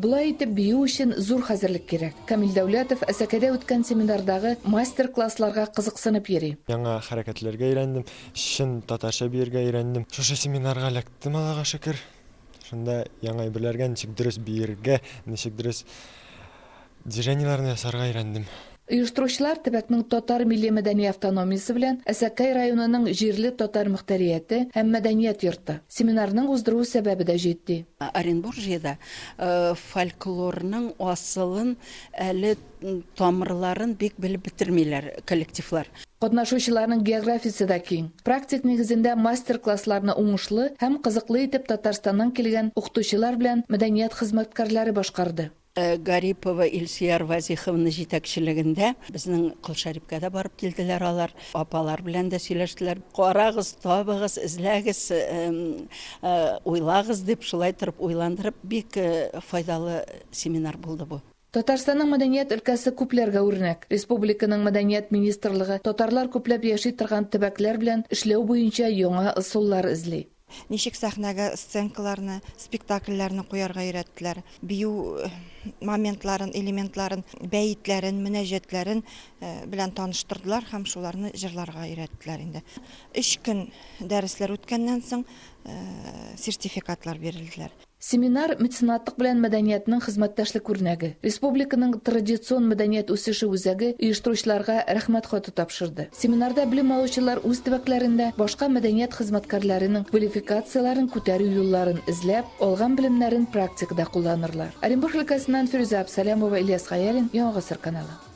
Болай итеп бию өчен зур хәзерлек кирәк. Камил Дәүләтов Әсәкәдә үткән семинардагы мастер-классларга кызыксынып йөри. Яңа хәрәкәтләргә өйрәндем, чын татарча биергә өйрәндем. Шушы семинарга эләктем, Аллага шөкер. Шунда яңа әйберләргә ничек дөрес биергә, ничек дөрес. Движениеләрне ясарга өйрәндем. Оештыручылар төбәкнең татар милли мәдәни автономиясе белән Әсәкәй районының җирле татар мөхтәрияте һәм мәдәният йорты. Семинарның уздыру сәбәбе дә җитди. Оренбуржьеда фольклорның асылын, әле тамырларын бик белеп бетермиләр коллективлар. Катнашучыларның географиясе дә киң. Практик нигезендә мастер-классларны уңышлы һәм кызыклы итеп Татарстаннан килгән укытучылар белән мәдәният хезмәткәрләре башкарды. Гарипова Илсөяр Вазиховна җитәкчелегендә безнең Кол Шәрипкә дә барып килделәр алар. Апалар белән дә сөйләштеләр. Карагыз, табыгыз, эзләгез, уйлагыз, дип, шулай торып уйландырып, бик файдалы семинар булды бу. Татарстанның мәдәният өлкәсе күпләргә үрнәк. Республиканың мәдәният министрлыгы татарлар күпләп яши торган төбәкләр белән эшләү буенча яңа ысуллар эзли. Ничек сәхнәгә сценкаларны, спектакльләрне куярга өйрәттеләр, бию моментларын, элементларын, бәетләрен, мөнәҗәтләрен белән таныштырдылар һәм шуларны җырларга өйрәттеләр инде. Өч көн дәресләр үткәннән соң сертификатлар бирелделәр. Семинар Меценатлык белән мәдәниятның хезмәттәшлек үрнәге, республиканың Традицион мәдәният үсеше үзәге оештыручыларга Рәхмәт хаты тапшырды. Семинарда белем алучылар үз төбәкләрендә башка мәдәният хезмәткәрләренең квалификацияләрен күтәрү юлларын эзләп, алган белемнәрен практикада кулланырлар. Оренбург өлкәсеннән Фирүзә Абсалямова, Ильяс Гаяйлин, Яңа гасыр каналы.